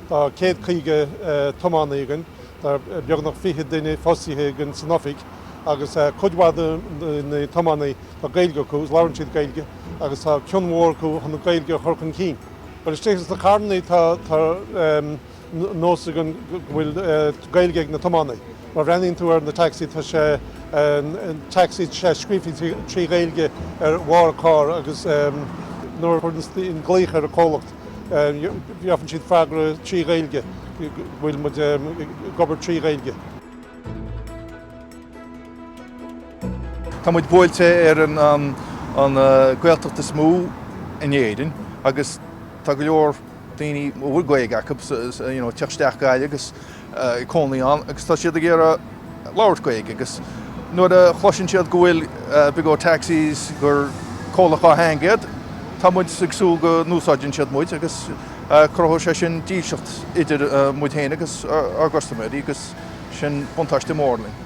Tá céad caoga tiománaí againn, tá beagnach fiche duine fostaithe againn san oifig agus cuid mhaith de na tiománaí tá Gaeilge acu, labhrann siad Gaeilge agus tá cion mhór acu chun an Ghaeilge a chur chun cinn. Bhuel istigh sna carrannaí tá tá nós againn go bhfuil Gaeilge ag na tiománaí. Má bhreathnaíonn tú ar na taxi tá sé taxi, tá sé scríofa trí Ghaeilge ar bharr an carr agus nuair a thagann glaoch ar an comhlacht gheobhfaidh siad freagra trí Ghaeilge go bhfuil muid ag obair trí Ghaeilge. Tá muid buailte ar an Gaeltacht is mó in Éirinn agus tá go leor daoine a bhfuil Gaeilge acu ag teacht isteach go Gaillimh agus ag cónaí ann agus tá siad ag iarraidh labhairt Gaeilge agus nuair a chloiseann siad go bhfuil Big O Taxis, gur comhlacht dhátheangach iad, tá muid ag súil go n-úsáideann siad muid agus cruthóidh sé sin dílseacht idir muid féin agus ár gcustaiméirí agus sin buntáiste mór dúinn.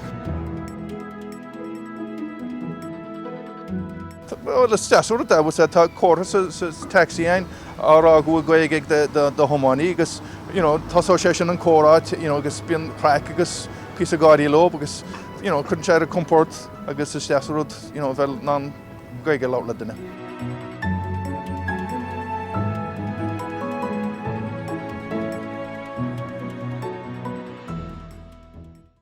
Bhuel, is deas an rud é, agus tá comhartha sa taxi fhéin á rá go bhfuil Gaeilge ag do thiománaí agus you know tosóidh sé sin an comhrá you know agus bíonn craic agus píosa gáirí leo agus you know cuireann sé ar a gcompord agus is deas an rud you know bheith in ann Gaeilge a labhairt le duine.